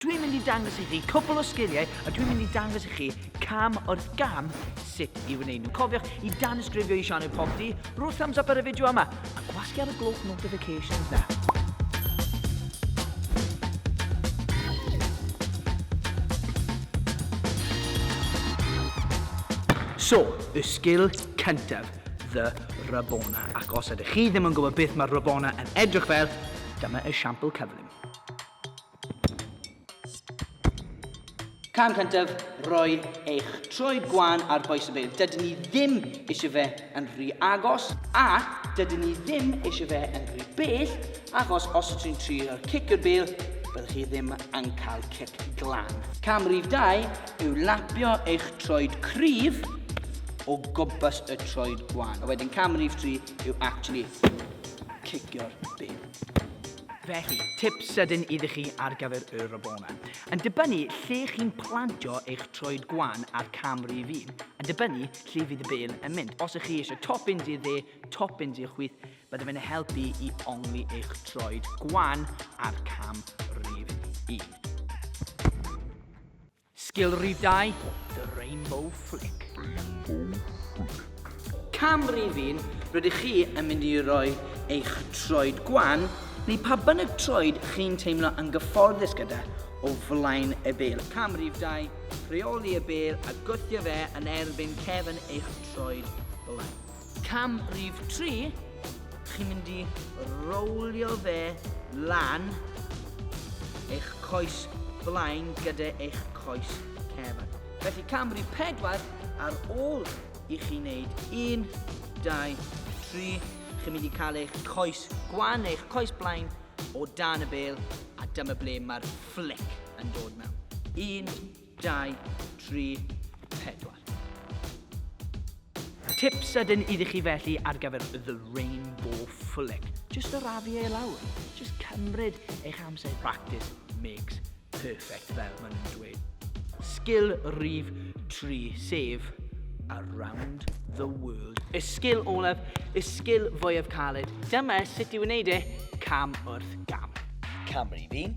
Dwi'n mynd i dangos i chi cwpl o sgiliau a dwi'n mynd i dangos i chi cam wrth gam sut i wneud nhw. Cofiwch i danysgrifio i sianel Pop D, rhoi thumbs up ar y fideo yma a gwasgu ar y gloch notifications na. So, y sgil cyntaf, The Rabona. Ac os ydych chi ddim yn gwybod beth mae Rabona yn edrych fel, dyma esiampl cyflym. Cam cyntaf, rhoi eich troed gwan ar boes y beil. Dydyn ni ddim eisiau fe yn rhy agos a dydyn ni ddim eisiau fe yn rhy bell achos os ydych chi'n trio cic yr beil, byddwch chi ddim yn cael cic glan. Cam rhif 2 yw lapio eich troed cryf o gwmpas y troed gwan. A wedyn cam rhif 3 yw actually cicio'r beil. Felly, tip sydyn iddi chi ar gyfer y Rabona. Yn dibynnu lle chi'n plantio eich troed gwan a'r cam rif un, yn dibynnu lle fydd y bel yn mynd. Os ych chi eisiau toppins i'r dde, toppins i'r chwith, byddai fe'n helpu i ongli eich troed gwan a'r cam rif un. Sgilrydau The Rainbow Flick. Cam rifyn, rydych chi yn mynd i roi eich troed gwan neu pa bynnag troed chi'n teimlo yn gyfforddus gyda o flaen y bêl. Cam rif 2, rheoli y bêl a gwthio fe yn erbyn cefn eich troed blaen. Cam rhif tri, chi'n mynd i rowlio fe lan eich coes blaen gyda eich coes cefn. Felly cam rhif pedwar, ar ôl i chi wneud un, dau, tri, chi'n mynd i cael eich coes gwan neu eich coes blaen o dan y bel a dyma ble mae'r flic yn dod mewn. Un, 2, 3, 4. Tip sydyn iddi chi felly ar gyfer The Rainbow Flick. Just o rafu e lawr. Just cymryd eich amser. Practice makes perfect fel maen nhw'n dweud. Sgil rif 3, sef Around the World. Y sgil olaf, y sgil fwyaf caled. Dyma sut i wneud e, cam wrth gam. Cam rif 1,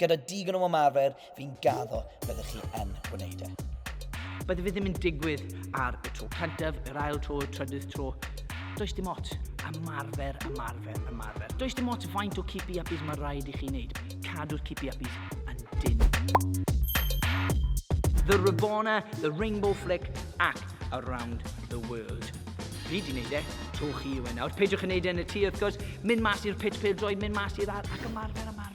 Gyda digon o ymarfer, fi'n gaddo, byddwch chi yn gwneud e. Bydde fe ddim yn digwydd ar y tro cyntaf, yr ail tro, y trydydd tro. Does dim ots. Ymarfer, ymarfer, ymarfer. Does dim ots faint o keepy uppies mae rhaid i chi wneud. Cadw'r keepy uppies yn dyn. The Rabona, The Rainbow Flick ac Around the World. Fi di wneud e, tro chi yw e nawr. Peidiwch yn wneud e yn y tŷ, wrth gwrs. Mynd mas i'r pit pêl droi, mynd mas i'r ar ac ymarfer, ymarfer.